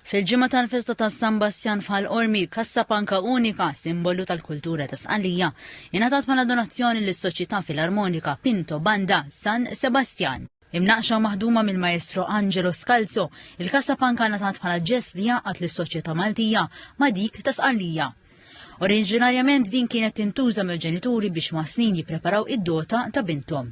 Fil-ġimgħa tal-festa ta' San Bastjan f'Ħal Qormi, kassa panka unika, simbolu tal-kultura ta' Sqallija, ingħatat bħala donazzjoni lis-Soċjetà Filarmonika Pinto Banda San Sebastjan. Imnaqqxa u maħduma mill-Maestro Angelo Scalzo, il-kassa panka ngħatat bħala ġest li jgħaqqad lis-soċjetà Maltija ma' dik ta' Sqallija. Oriġinarjament din kienet tintuża mill-ġenituri biex ma' snin jippreparaw id-dota ta' binthom.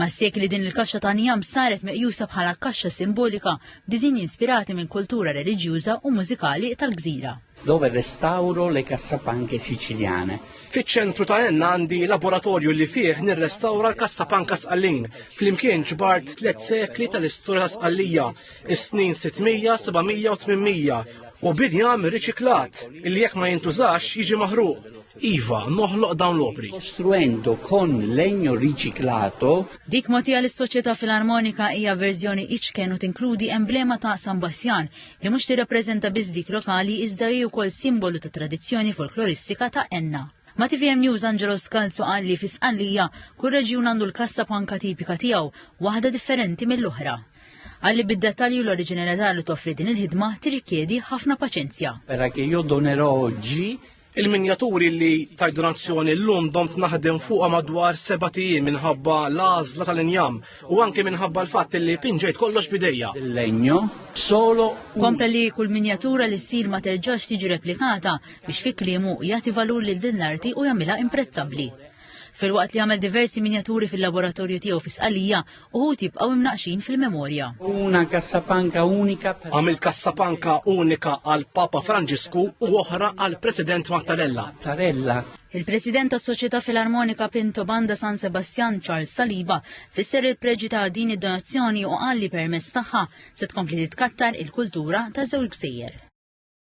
Mas-sekli din il-kaxxa ta' njam saret meqjusa bħala kaxxa simbolika b'diżinji inspirati mill-kultura reliġjuża u mużikali tal-gżira. dove restauro le cassapanche siciliane. Fiċ-ċentru ta' Enna għandi laboratorju li fih nirrestawra l-kassapanka Sqallin. Flimkien ġbart tliet sekli tal-istorja ta' Sqallija, is-snin 600, 700 u 800 u binjam riċiklat li jekk ma jintużax jiġi maħruq. Iva, noħloq dawn l-opri. Kostruendo kon legno riciclato. Dik mogħtija lis-Soċjetà Filarmonika hija verżjoni iċken u tinkludi emblema ta' San Bassjan li mhux tirrappreżenta biss dik lokali iżda hi wkoll simbolu ta' tradizzjoni folkloristika ta' Enna. Ma' TVM News Angelo Skalzu qal li fi Sqallija kull reġjun għandu l-kassa panka tipika tiegħu, waħda differenti mill-oħra. Qal li bid-dettalji u l-oriġinalità li toffri din il-ħidma tirrikjedi ħafna paċenzja. Era che io donerò oggi Il-minjaturi li tajt donazzjoni l-lum domt naħdem fuqa madwar seba' tijiem minħabba l-għażla tal-injam u anke minħabba l-fatt li pinġejt kollox bidejja. Legno solo Kompla li kull minjatura li ssir ma terġax tiġi replikata biex fi kliemu jagħti valur lil din l-arti u jagħmilha imprezzabbli. Filwaqt li għamel diversi minjaturi fil-laboratorju tiegħu fi Sqallija, uħud jibqgħu imnaqqxin fil-memorja. Una cassapanca unika per Għamilt kassapanka unika għal Papa Franġisku u oħra għal President Mattarella. Mattarella. Il-President tas-Soċjetà Filarmonika Pinto Banda San Sebastjan Charles Saliba fisser il-preġi ta' din id-donazzjoni u qal li permezz tagħha se tkompli titkattar il-kultura ta' żewġ gżejjer.